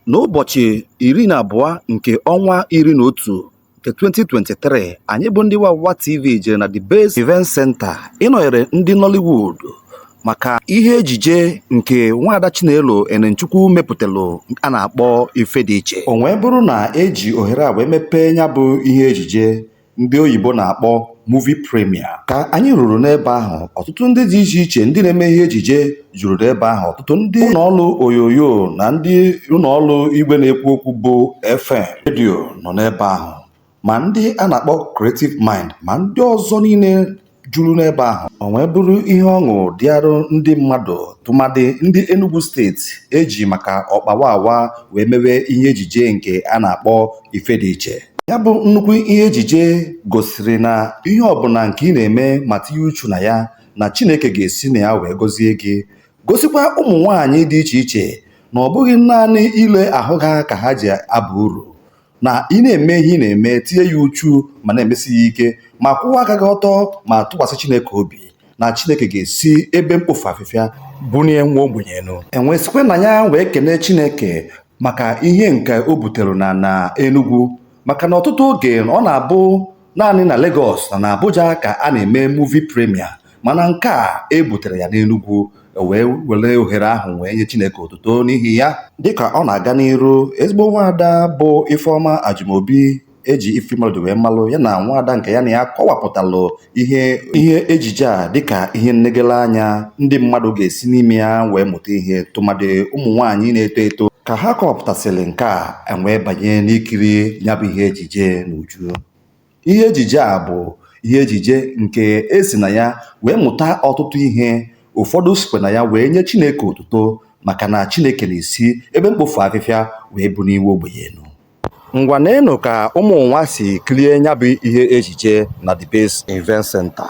N'ụbọchị iri na abụọ nke ọnwa iri na otu nke 2023, anyị bụ ndị Wawa TV jere na The Base Event Center ịnọnyere ndị Nollywood maka ihe ejije nke nwaada Chinelo Enemchukwu mepụtalụ a na-akpọ Ifediche. O wee bụrụ na eji ohere a wee mepee ya bụ ihe ejije ndị oyibo na-akpọ movie premiere ka anyị ruru n'ebe ahụ ọtụtụ ndị dị iche iche ndị na-eme ihe ejije juru n'ebe ahụ ọtụtụ ndị ụlọọrụ onyonyo na ndị ụlọọrụ igwe na-ekwu okwu bụ FM redio nọ n'ebe ahụ ma ndị a na-akpọ Creative Mind ma ndị ọzọ niile juru n'ebe ahụ o wee bụrụ ihe ọṅụ dịarụ ndị mmadụ tụmadị ndị Enugu steeti eji maka ọkpa Wawa wee mewe ihe ejije nke a na-akpọ Ifediche ya bụ nnukwu ihe ejije gosiri na ihe ọbụla nke ị na-eme ma tinye uchu na ya na Chineke ga-esi na ya wee gọzie gị gosikwa ụmụ nwaanyị dị iche iche na ọ bụghị naanị ile ahụ ha ka ha ji aba uru na ị na-eme ihe ị na-eme tinye ya uchu ma na-emesi ya ike ma kwụwa aka gị ọtọ ma tụkwasị Chineke obi na Chineke ga-esi ebe mkpofu afịfịa bunie nwa ogbenye enu e wee sikwa na ya wee kene Chineke maka ihe nke o butere na na Enugu maka na ọtụtụ oge ọ na-abụ Naanị na Legọs na na Abuja ka a na-eme movie premiere mana nke a e butere ya n'Enugwu e wee were ohere ahụ wee nye Chineke otuto n'ihi ya. Dịka ọ na-aga n'iru, ezigbo nwaada bụ Ifeọma Ajumobi eji Ifymelody wee malụ ya na nwaada nke ya na ya kọwapụtalụ ihe ihe ejije a dịka ihe nnegele anya ndị mmadụ ga-esi n'ime ya wee mụta ihe tụmadị ụmụ nwaanyị na-eto eto ka ha kọwapụtasịrị nke a e wee banye n'ikiri ya bụ ihe ejije n'uju Ihe ejije a bụ ihe ejije nke e si na ya wee mụta ọtụtụ ihe, ụfọdụ sikwa na ya wee nye Chineke otuto maka na Chineke na-esi ebe mkpofu afịfịa wee bunie nwa ogbenye enu. Ngwa neenụ ka ụmụ ụwa si kirie ya bụ ihe ejije na The Base Event Center.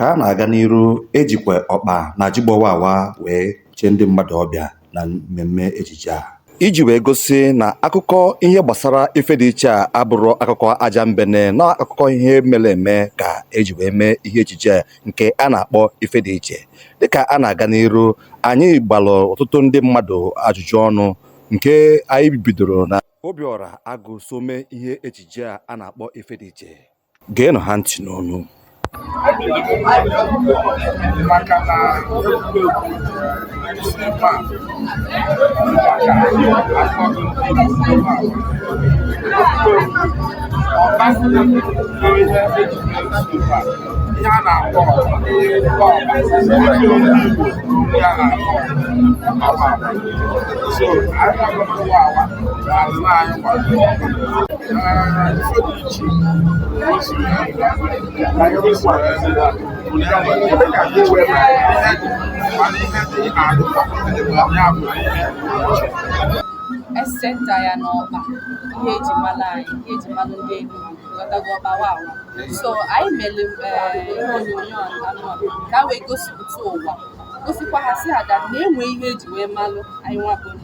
Ka a na-aga n'iru, e jikwa ọkpa na jigbo Wawa wee chee ndị mmadụ ọbịa na mmemme ejije a. Iji wee gosi na akụkọ ihe gbasara Ifediche a abụrụ akụkọ ajambene na akụkọ ihe mere eme ka e ji wee mee ihe ejije a nke a na-akpọ Ifediche. Dịka a na-aga n'iru, anyị gbalụ ọtụtụ ndị mmadụ ajụjụ ọnụ nke anyị bidoro na Obiọra Agụ so mee ihe ejije a a na-akpọ Ifediche. geenụ ha ntị n'ọnụ maka na ihe a na-akpọ so esenta ya n'ọkpa ihe eji mara anyị ihe eji mara ndị Enugu ghọtago ọkpa Wawa so anyị mere eh, ihe onyonyo anụ ka wee gosipụta ụwa gosikwa ha sị ha ga na-enwe ihe eji wee malụ anyị nwa bụ ndị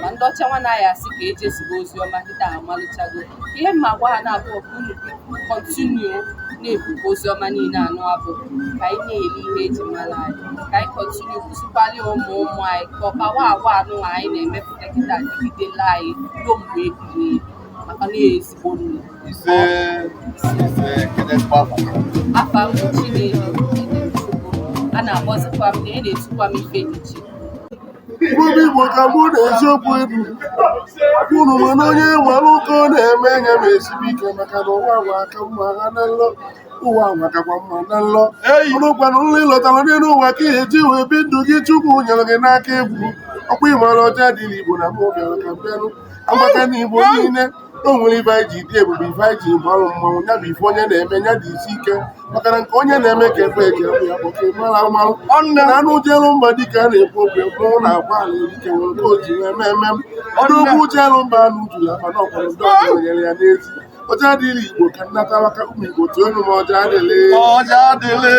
ma ndị ọcha nwa na-aya asị ka eji ezigbo ozi ọma kịta ha malụchago ihe m na-agwa ha na-abụ ka unu continue na-ebu ozi ọma niile anụ abụ ka anyị na-eli ihe eji mara anyị ka anyị continue kuzikwalụ ụmụ ụmụ anyị ka ọkpa Wawa anụ anyị na-emepụta kịta dịgidela anyị ruo mgbe ebighị ebi maka na ezigbo nni ise ise ekele mgbaba afa m Chinelo a na-akpọzikwa m na e na-etukwa m Ifediche Ebube Igbo ka mụ na eziokwu ebu unu ma na onye nwere nke ọ na-eme nya mesibe ike maka na ụwa nwa aka mma ha na nlọ ụwa nwa kakwa mma na nlọ ọ bụkwanụ nlọ ị lọtara n'elu ụwa ka e ji wee bi ndụ gị Chukwu nyere gị n'aka egwu ọkwa ịmara Ọjadịlị Igbo na mụ bịara ka m bịanụ amaka na Igbo niile na o nwere ife anyị ji dị ebube ife anyị ji bụrụ mmadụ ya bụ ife onye na-eme ya jisie ike maka na nke onye na-eme ka ekwe eke bụ ya kpọka mara amalụ ọnụ na anụ jelu mba dịka a na-ekwu okwu mmanwụ na-agba ala erike nwere nke o ji wee mee eme m odogwu jelu mba anụ juru akpa na ọkwara ndị ọzọ nyere ya n'ezi Ọjadịlị Igbo ka nnata maka ụmụ igbo tụọ enu m Ọjadịlị Ọjadịlị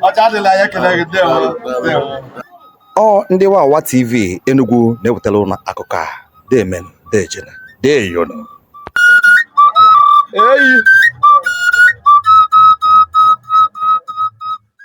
Ọjadịlị anyị ekele gị ndewo ndewo ọ ndị Wawa TV Enugu na-ewetara unu akụkọ a deemenụ deejenụ deyonu eyi